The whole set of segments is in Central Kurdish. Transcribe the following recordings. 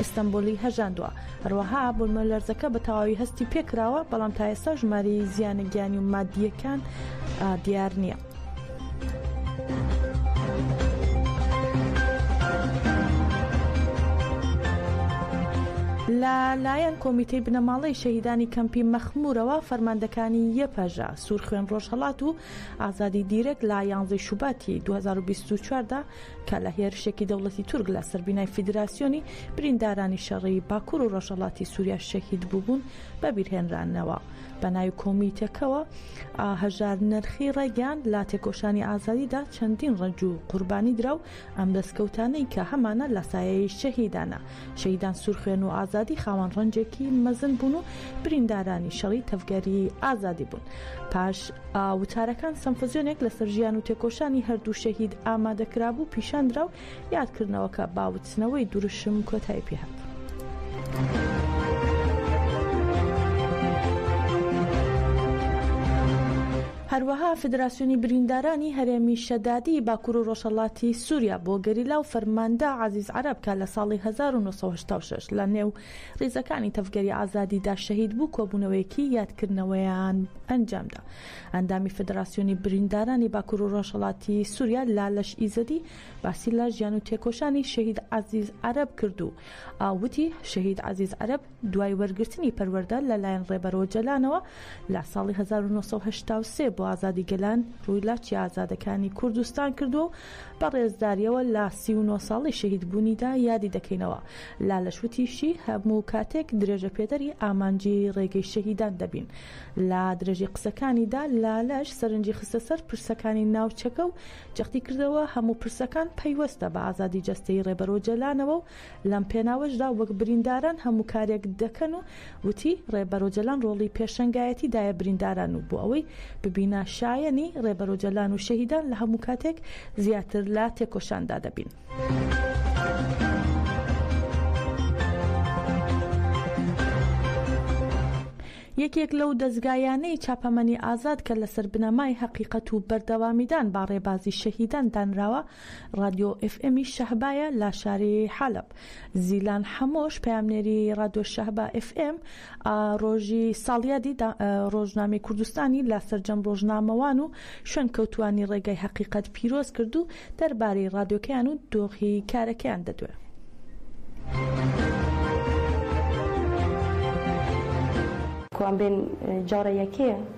ئیستەنبوڵی هەژاندووە، هەروەها بوومەلەرزەکە بە تەواوی هەستی پێکراوە، بەڵام تا ئێستا ژمارەی زیانە گیانی و ماددییەکان دیار نییە. لە لایەن کۆمیتەی بنەماڵەی شەهیدانی کەمپی مەخمورەوە فەرماندەکانی یەپەژە سوور خوێن ڕۆژهڵات و ئازادی دیرەک لە یانزەی شوباتی 2024دا کە لە هێرشێکی دەوڵەتی تورک لە سەر بینای فیدراسیۆنی بریندارانی شەڕی باکوور و ڕەژەڵاتی سووریا شەهید بووبوون بەبیرهێنرانەوە بە ناوی کۆمیتەکەوە هەژار نرخی ڕێگەیان لە تێکۆشانی ئازادیدا چەندین ڕەنج و قوربانی درا و ئەم دەستکەوتانەی کە هەمانە لە سایەی شەهیدانە شەهیدان سوورخوێن و ئازادی خاوەن ڕەنجێکی مەزن بوون و بریندارانی شەڕی تەڤگەری ئازادی بوون پاش وتارەکان سەمفزیۆنێک لەسەر ژیان و تێکۆشانی هەردوو شەهید ئامادەکرابوو پیشاندرا و یادکردنەوەکە باوتنەوەی دروشم کۆتای پێهات. هەروەها فیدراسیۆنی بریندارانی هەرێمی شەدادی باکور و ڕۆژهەڵاتی سوریا بۆ گەریلا و فەرماندە عەزیز عەرەب کە لە ساڵی هەزار و نۆ سەد و هەشتا و شەش لە نێو ڕیزەکانی تەڤگەری ئازادیدا شەهید بوو کۆبوونەوەیەکی یادکردنەوەیان ئەنجامدا ئەندامی فیدراسیۆنی بریندارانی باکور و ڕۆژهەڵاتی سوریا لالش ئیزەدی باسی لە ژیان و تێکۆشانی شەهید عەزیز عەرەب کرد و وتی شەهید عەزیز عەرەب دوای وەرگرتنی پەروەردە لە لایەن ڕێبەر ئۆجەلانەوە لە ساڵی هەزار و نۆ سەد و هەشتا و سێ بۆ ئازادی گەلان ڕووی لە چیا ئازادەکانی کوردستان کردووە و بە ڕێزداریەوە لە سی و نۆ ساڵەی شەهید بوونیدا یادی دەکەینەوە. لالش وتیشی، هەموو کاتێک درێژەپێدەری ئامانجی ڕێگەی شەهیدان دەبین. لە درێژەی قسەکانیدا لالش سەرنجی خستە سەر پرسەکانی ناوچەکە و جەختی کردەوە هەموو پرسەکان پەیوەستە بە ئازادی جەستەیی ڕێبەر ئۆجەلانەوە و لەم پێناوەشدا وەک برینداران هەموو کارێک دەکەن و وتی، ڕێبەر ئۆجەلان ڕۆڵی پێشەنگایەتی دایە برینداران و بۆ ئەوەی ببینە شایەنی، ڕێبەر ئۆجەلان و شەهیدان لە هەموو کاتێک زیاتر لە تێکۆشاندا دەبین. یەکێک لەو دەزگایانەی چاپەمەنی ئازاد کە لەسەر بنەمای هەقیقەت و بەردەوامیدان با ڕێبازی شەهیدان دانراوە، ڕادیۆ ئێف ئێمی شەهبایە لە شاری حەلەب. زیلان حەمۆش پەیامنێری ڕادیۆ شەهبا ئێف ئێم ئا ڕۆژی ساڵیادی دا ڕۆژنامەی کوردستانی لە سەرجەم ڕۆژنامەوان و شوێنکەوتووانی ڕێگای هەقیقەت پیرۆز کرد و دەربارەی ڕادیۆکەیان و دۆخی کارەکەیان دەدوێ. کوان بێن جارە یەکێ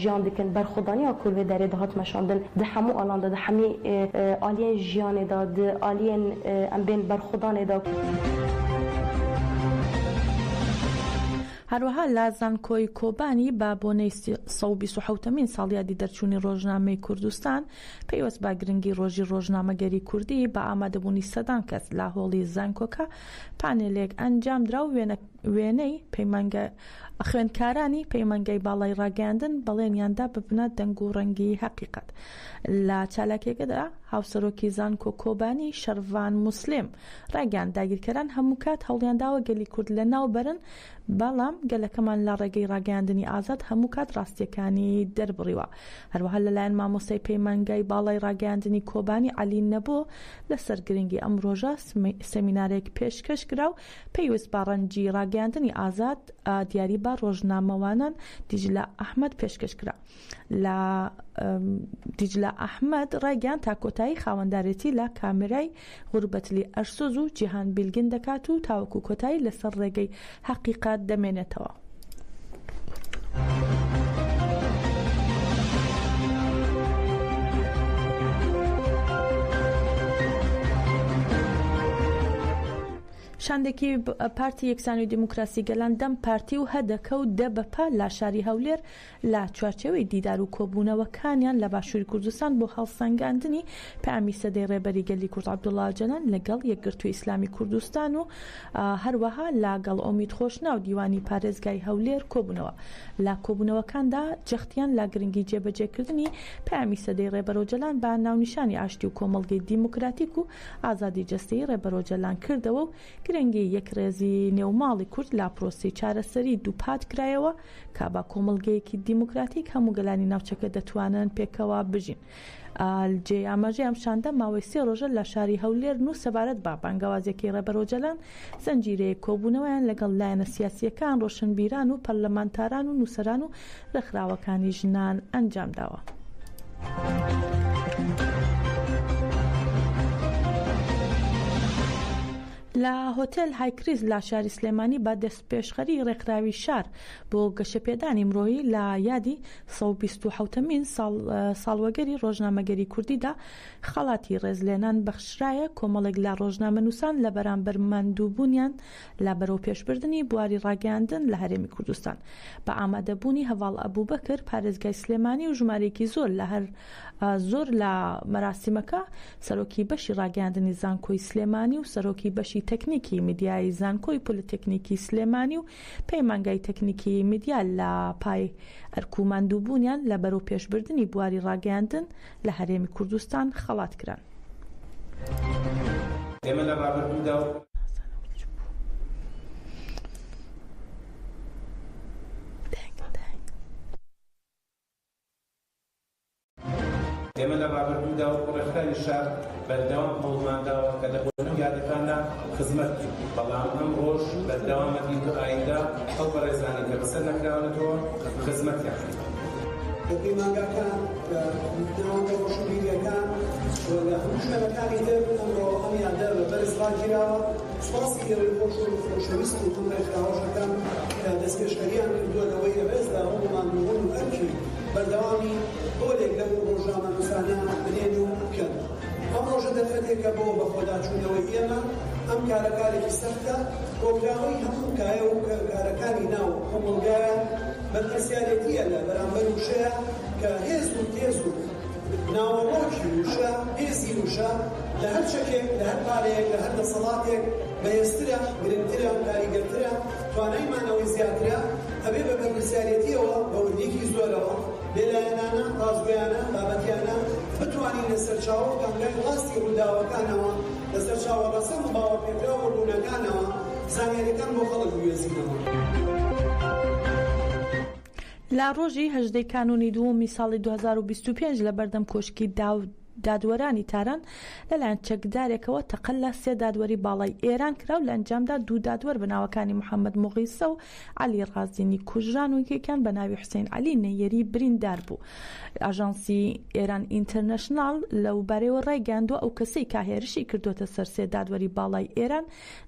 ژیان دکن بەر خودانی ئا کورڤێ دەێ دە هات مەشاندن دە حەموو ئالان دە دە حەمێ ئالیێن ژیانێ دە دە ئالیێن ئەم بێن بەر خودانێ دە. هەروەها لە زانکۆی کۆبانی بە بۆنەی سە و بیست و حەوتەمین ساڵیادی دەرچوونی ڕۆژنامەی کوردستان پەیوەست بە گرنگی ڕۆژی ڕۆژنامەگەری کوردی بە ئامادەبوونی سەدان کەس لە هۆڵی زانکۆکە پانێلێک ئەنجامدرا و وێنە وێنەی، پەیمانگە خوێندکارانی پەیمانگای باڵای ڕاگەیاندن بەڵێنیان دا ببنە دەنگ و ڕەنگی هەقیقەت. لە چالاکیەکەدا هاوسەرۆکی زانکۆ کۆبانی، شەرڤان موسلیم، ڕایگەیاند داگیرکەران هەمووکات هەوڵیانداوە گەلی کورد لەناوبەرن، بەڵام گەلەکەمان لە ڕێگەی ڕاگەیاندنی ئازاد هەمووکات ڕاستیەکانی دەربڕیوە. هەروەها لەلایەن مامۆستای پەیمانگای باڵای ڕاگەیاندنی کۆبانی عەلی نەبۆ لەسەر گرنگی ئەم ڕۆژە سمینارێک پێشکەش کرا و پێویست بە ڕەنجی ڕاگەیاندنی ئازاد دیاری بە ڕۆژنامەوانان دیجلە ئەحمەد پێشکەش کرا لە دیجلە ئەحمەد ڕایگەیان تا کۆتایی خاوەندارێتی لە کامێرای غوربەتلی ئەرسۆز و جیهان بیلگین دەکات و تاوەکو کۆتایی لەسەر ڕێگەی هەقیقەت دەمێنێتەوە. شاندێکی پارتی یەکسانی و دیموکراسی گەلان دەم پارتی و هەدەکە و دە بەپال لاشاری هەولێر لە چوارچێوەی دیدار و کۆبوونەوەکانیان لە باشووری کوردستان بۆ هەڵسەنگاندنی پەیامی سەدەی ڕێبەری گەلی کورد عەبدوڵا ئۆجالان لەگەڵ یەکگرتووی ئیسلامی کوردستان و هەروەها لە گەڵ ئومید خۆشناو دیوانی پارێزگای هەولێر کۆبوونەوە لە کۆبوونەوەکاندا جەختیان لە گرنگی جێبەجێکردنی پەیامی سەدەی ڕێبەر ئۆجەلان بە ناونیشانی ئاشتی و کۆمەڵگەی دیموکراتیک و ئازادی جەستەیی ڕێبەر ئۆجەلان کردەوە و گرنگی یەکڕێزی نێو ماڵی کورد لە پرۆسەی چارەسەری دووپات کرایەوە کە بە کۆمەڵگەیەکی دیموکراتیک هەموو گەلانی ناوچەکە دەتوانن پێکەوە بژین. جێ ئاماژەی ئەم شاندە ماوەی سێ ڕۆژە لە شاری هەولێر و سەبارەت بە بانگەوازێکی ڕێبەر ئۆجەلان زنجیرەیەک کۆبوونەوەیان لەگەڵ لایەنە سیاسییەکان، ڕۆشنبیران و پەرلەمانتاران و نووسەران و ڕێکخراوەکانی ژنان ئەنجام داوە. لە هۆتێل هایکریز لە شاری سلێمانی بە پێشخەری ڕێکخراوی شار بۆ گەشەپێدانی مرۆیی لە یادی سەد و بیست و حەوت مین ساڵوەگەری ڕۆژنامەگەری کوردیدا خەڵاتی ڕێزلێنان بەخشرایە کۆمەڵێک لە ڕۆژنامەنووسان لە بەرامبەر ماندووبوونیان لە بەرەوپێشبردنی بواری ڕاگەیاندن لە هەرێمی کوردستان بە ئامادەبوونی هەڤاڵ ئەبوبەکر پارێزگای سلێمانی و ژمارەیەکی زۆر لە زۆر لە مەراسیمەکە سەرۆکی بەشی ڕاگەیاندنی زانکۆی سلێمانی و سەرۆکی بەشی تەکنیکی میدیایی زانکۆی پۆلیتەکنیکی سلێمانی و پەیمانگای تەکنیکیی میدیا لە پای ئەرک و ماندووبوونیان لە بەرەوپێشبردنی بواری ڕاگەیاندن لە هەرێمی کوردستان خەڵات کران. ئێمە لە ڕابردوودا و. ئێمە لە ڕابردوودا وەکو ڕێکخراوی شار بەردەوام هەوڵمانداوە کە لە بونیادەکاندا خزمەت بکەین، بەڵام ئەمڕۆش بەردەوامە دین بۆ ئایندە ئەو بەڕێزانەی کە بەسەر نەکراونەتەوە خزمەتیان بکەین. لە پەیمانگاکان، لە ناوەندە ڕۆشنبیرییەکان و لە هەموو شوێنەکانی تر ئەمڕۆ ئەم یادە بە بەرز ڕاگیراوە. سوپاسی گەلەک خۆش و خۆشەویست و دڵنەکراوەش ئەکەم کە دەستپێشخەریان کردووە لەوەی رێزلە رەنگ و ماندووبوون و ئەرکی بەردەوامی پۆلێک لەو رۆژنامەنووسانە بنێن و بکەن. ئەم رۆژە دەرفەتێکە بۆ بەخۆداچوونەوەی ئێمە. ئەم کارە کارێکی سەختە. کۆکراوەی هەموو کایە و کارەکانی ناو کۆمەڵگایە. بەرپرسیارێتییە لە بەرامبەر وشەیە کە هێز و تێز و. ناوەڕۆکی وشە، هێزی وشە لە هەر چەکێک، لە هەر پارەیەک، لە هەر دەسەڵاتێک بەهێزترە، گرنگترە، کاریگەرترە، توانای مانەوەی زیاترە، ئەبێ بە بەرپرسیارێتییەوە، بە وردییەکی زۆرەوە، بێلایەنانە، ڕاستگۆیانە، بابەتیانە بتوانین لە سەرچاوە و کانگای ڕاستی ڕووداوەکانەوە، لە سەرچاوە ڕەسەن و باوەڕپێکراو و ڕوونەکانەوە زانیارییەکان بۆ خەڵک بگوێزینەوە. لە ڕۆژی هەژدەی کانوونی دووەمی ساڵی دوو هەزار و بیست و پێنج لە بەردەم کۆشکی دادوەرانی تاران لەلایەن چەکدارێکەوە تەقە لە سێ دادوەری باڵای ئێران کرا و لە ئەنجامدا دوو دادوەر بە ناوەکانی محەممەد موغیسە و عەلی ڕازینی کوژران و یەکێکیان بە ناوی حوسەین عەلی نەییەری بریندار بوو. ئاژانسی ئێران ئینتەرنەشناڵ لەو بارەیەوە ڕایگەیاندووە، ئەو کەسەی کە هێرشی کردووەتە سەر سێ دادوەری باڵای ئێران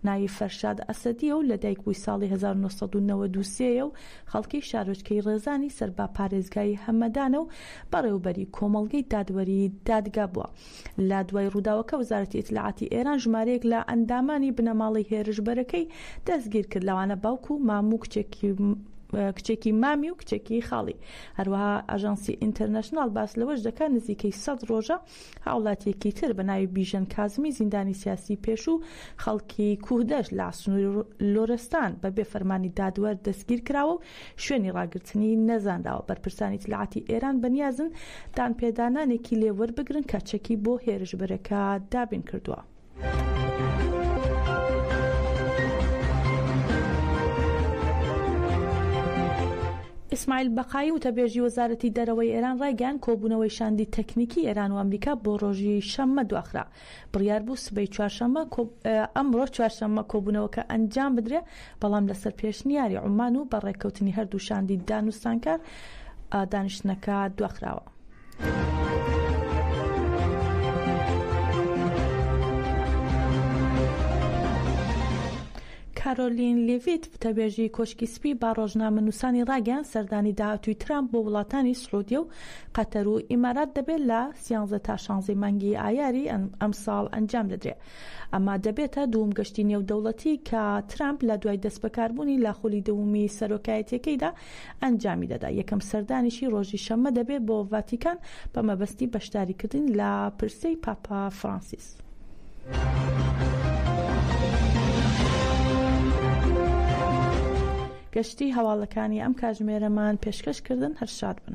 ناوی فەرشاد ئەسەدییە و لەدایکبووی ساڵی هەزار و نۆ سەد و نەوەد و سێ یە و خەڵکی شارۆچکەی ڕێزانی سەر بە پارێزگای هەمەدانە و بەڕێوەبەری کۆمەڵگەی دادوەری دادگا بووە. لە دوای ڕووداوەکە وەزارەتی ئیتلاعاتی ئێران ژمارەیەک لە ئەندامانی بنەماڵەی هێرشبەرەکەی دەستگیر کرد لەوانە باوک و مام و کچێکی کچێکی مامی و کچێکی خاڵی. هەروەها ئاژانسی ئینتەرنەشناڵ باس لەوەش دەکات نزیکەی سەد ڕۆژە هاوڵاتیەکی تر بە ناوی بیژەن کازمی زیندانی سیاسی پێشوو خەڵکی کوهدەشت لە سنووری لۆرستان بە بێ فەرمانی دادوەر دەستگیر کراوە و شوێنی ڕاگرتنی نەزانراوە، بەرپرسانی ئیتلاعاتی ئێران بە نیازن دانپێدانانێکی لێ وەربگرن کە چەکی بۆ هێرشبەرەکە دابین کردووە. ئیسماعیل بەقایی وتەبێژی وەزارەتی دەرەوەی ئێران ڕایگەیاند کۆبوونەوەی شاندی تەکنیکی ئێران و ئەمریکا بۆ ڕۆژی شەممە دواخرا بڕیار بوو سبەی چوارشەممە ئەمڕۆ چوارشەممە کۆبوونەوەکە ئەنجام بدرێ بەڵام لەسەر پێشنیاری عومان و بە ڕێککەوتنی هەردوو شاندی دانوستانکار دانیشتنەکە دواخراوە. کارۆلین لیڤیت وتەبێژی کۆشکی سپی بە ڕۆژنامەنووسانی ڕاگەیان سەردانی داهاتووی ترامپ بۆ وڵاتانی سعودیە و قەتەر و ئیمارات دەبێت لە سیانزە تا شانزەی مانگی ئایاری ئەمساڵ ئەنجام دەدرێت ئەمە دەبێتە دووم گەشتی نێودەوڵەتی کە ترامپ لە دوای دەستبەکاربوونی لە خولی دوومی سەرۆکایەتیەکەیدا ئەنجامی دەدا، یەکەم سەردانیشی ڕۆژی شەممە دەبێت بۆ ڤاتیکان بە مەبەستی بەشداریکردن لە پرسەی پاپا فرانسیس. گەشتی هەواڵەکانی ئەم کاژمێرەمان پێشکەش کردن هەر شاد بن.